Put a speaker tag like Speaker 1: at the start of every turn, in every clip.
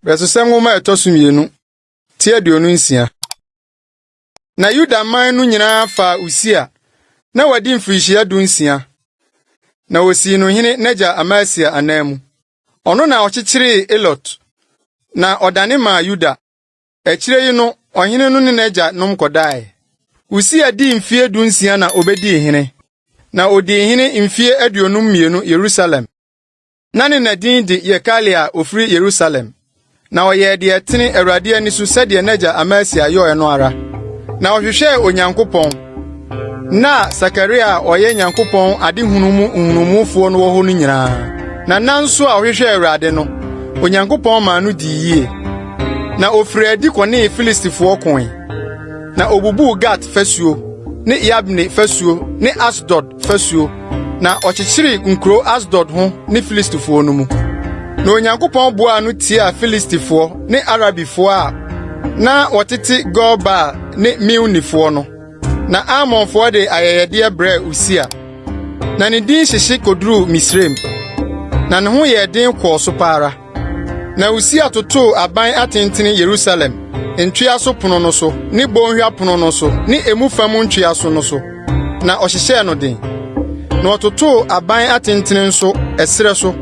Speaker 1: Bɛsesɛ nwoma a ɛtɔ so mmienu ti aduonu nsia. Na Yuda man no nyinaa faa Usia na wadi mfirihyia du nsia na wosii no hene n'agya Amasia ananmu. Ɔno na ɔkyekyeree Elot na ɔdane maa Yuda Akyire yi no, ɔhene no ne n'agya nom kɔdae. Usia dii mfeɛ dunsia na ɔbɛdii hene, na ɔdii hene mfeɛ aduonum mmienu Yerusalem. Na ne na din de Yekalia a ɔfiri Yerusalem. Na ɔyɛɛ deɛ ɛtene Awurade ani so sɛdeɛ n'agya Amasia yɔɔɛ no ara, na ɔhwehwɛɛ Onyankopɔn, Ná Sakaria a ɔyɛ Nyankopɔn adehunu mu nhunumufoɔ no wɔ hɔ no nyinaa, na na nso a ɔhwehwɛɛ Awurade no, Onyankopɔn maa no dii yie. Na ɔfirii adi kɔnee Filistifoɔ koe, na ɔbubuu Gat fasuo ne Yabne fasuo ne Asdod fasuo, na ɔkyekyeree nkuro Asdod ho ne Filistifoɔ no mu. Na Onyankopɔn boaa no tiaa Filistifoɔ ne Arabifoɔ a na wɔtete Gur Baal ne Meunifoɔ no. Na Ammonfoɔ de ayɛyɛdeɛ brɛɛ Usia. Na ne din hyehye kɔduruu Misraim, na ne ho yɛɛ den kɔɔ so pa ara. Na Usia totoo aban atentene Yerusalem ntwea so pono no so ne bɔnhwa pono no so ne emu fa mu ntwea so no so, na ɔhyehyɛɛ no den. Na ɔtotoo aban atentene nso ɛserɛ so,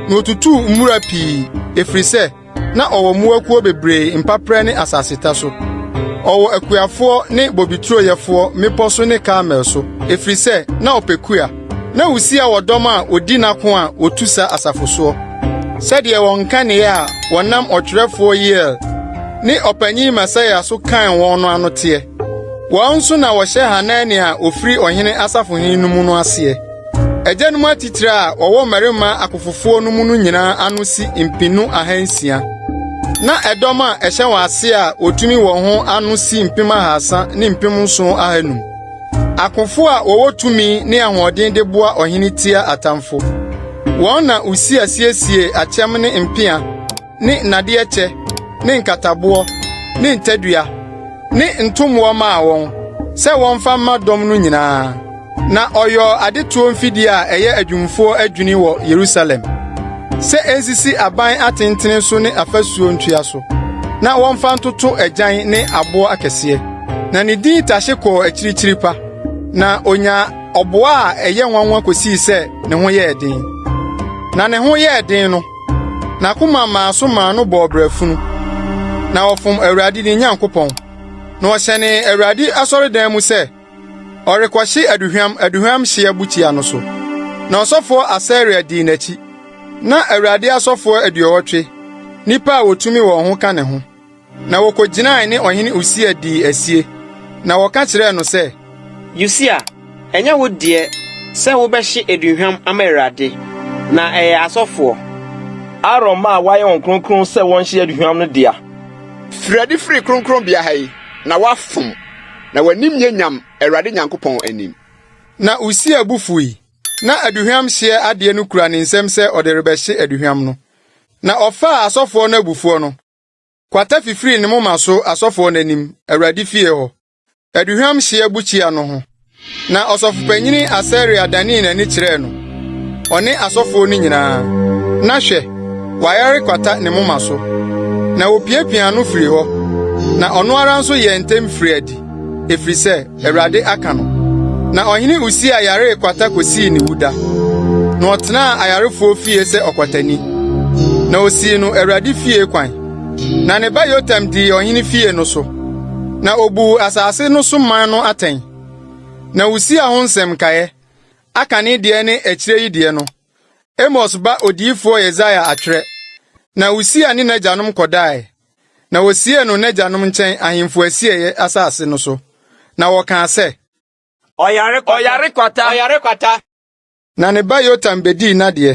Speaker 1: na otutuu mmura pii, ɛfiri sɛ na ɔwɔ mmoakuo bebree mpaperɛ ne asaseta so. Ɔwɔ akuafoɔ ne bobeturo yɛfoɔ mmepɔ so ne Karmel so, ɛfiri sɛ na ɔpɛ kua. Na Usia wɔ dɔm a odi n'ako a wotu sa asafo soɔ, sɛdeɛ wɔn nkanea a wɔnam ɔtwerɛfoɔ Yeiel ne ɔpanyin Maseia so kan wɔn no ano teɛ. Wɔn nso na wɔhyɛ Hanania a ɔfiri ɔhene asafohene no mu no aseɛ. Agyanom atitire a wɔwɔ mmarima akofofoɔ no mu no nyinaa ano si mpenu ahansia. Na ɛdɔm a ɛhyɛ wɔn aseɛ a wɔtumi wɔ ho ano si mpem ahasa ne mpem nson ahanum. Akofo a wɔwɔ tumi ne ahoɔden de boa ɔhene tia atamfo. Wɔn na Usia siesiee akyɛm ne mpea ne nnadeɛ kyɛ ne nkataboɔ ne ntadua ne ntommoɔ maa wɔn sɛ wɔmfa mma dɔm no nyinaa. Na ɔyɔɔ adetoɔ mfidie a ɛyɛ adwumfoɔ adwini wɔ Yerusalem sɛ ɛnsisi aban atentene so ne afasuo ntua so na wɔmfa ntoto agyan ne aboɔ akɛseɛ. na ne din tase kɔɔ akyirikyiri pa, na onyaa ɔboa a ɛyɛ nwanwa kosii sɛ ne ho yɛɛ den. Na ne ho yɛɛ den no, n'akoma maa so maa no bɔɔ brɛfunu, na ɔfom Awurade ne Nyankopɔn, na ɔhyɛnee Awurade asɔredan mu sɛ ɔrekɔhye aduhwam aduhwam hyeɛ bukyia no so. Na ɔsɔfoɔ Asaria dii n'akyi, na Awurade asɔfoɔ aduɔwɔtwe, nnipa a wɔtumi wɔn ho ka ne ho. Na wɔkɔgyinae ne ɔhene Usia dii asie, na wɔka kyerɛɛ no sɛ. Usia,
Speaker 2: ɛnyɛ wo deɛ sɛ wobɛhye aduhwam ama Awurade, na ɛyɛ asɔfoɔ. Aaron mma a wɔayɛ wɔn kronkron sɛ wɔnhye aduhwam no dea. Firi adi
Speaker 3: firi kronkronbea ha yi, na woafom, na w'anim nyɛ nyam Awurade Nyankopɔn anim. Na Usia
Speaker 1: bo fui, na aduhwam hyeɛ adeɛ no kura ne nsam sɛ ɔde rebɛhye aduhwam no, na ɔfaa asɔfoɔ no abufuo no. Kwata fifiri ne moma so asɔfoɔ no anim, Awurade fie hɔ, aduhwam hyeɛ bukyia no ho. Na ɔsɔfopanyin Asaria danee n'ani kyerɛɛ no, ɔne asɔfoɔ no nyinaa, na hwɛ, wayare kwata ne moma so. Na wɔpiapiaa no firii hɔ, na ɔno ara nso yɛɛ ntɛm firii adi, ɛfiri sɛ Awurade aka no. Na ɔhene Usia yaree kwata kosii ne wuda, na ɔtenaa ayarefoɔ fie sɛ ɔkwatani. Na osii no Awurade fie kwan, na ne ba Yotam dii ɔhene fie no so, na obuu asase no so man no atɛn. Na Usia ho nsɛm nkaeɛ, aka ne deɛ ne akyire yi deɛ no, Amos ba odiyifoɔ Yesaia atwerɛ. Na Usia ne n'agyanom kɔdaeɛ. na wosiee no n'agyanom nkyɛn ahemfo asieeɛ asase no so, na wɔkaa sɛ, Ɔyare kwata! Ɔyare kwata!
Speaker 2: Ɔyare
Speaker 1: kwata! Na ne ba
Speaker 2: Yotam
Speaker 1: bɛdii n'adeɛ.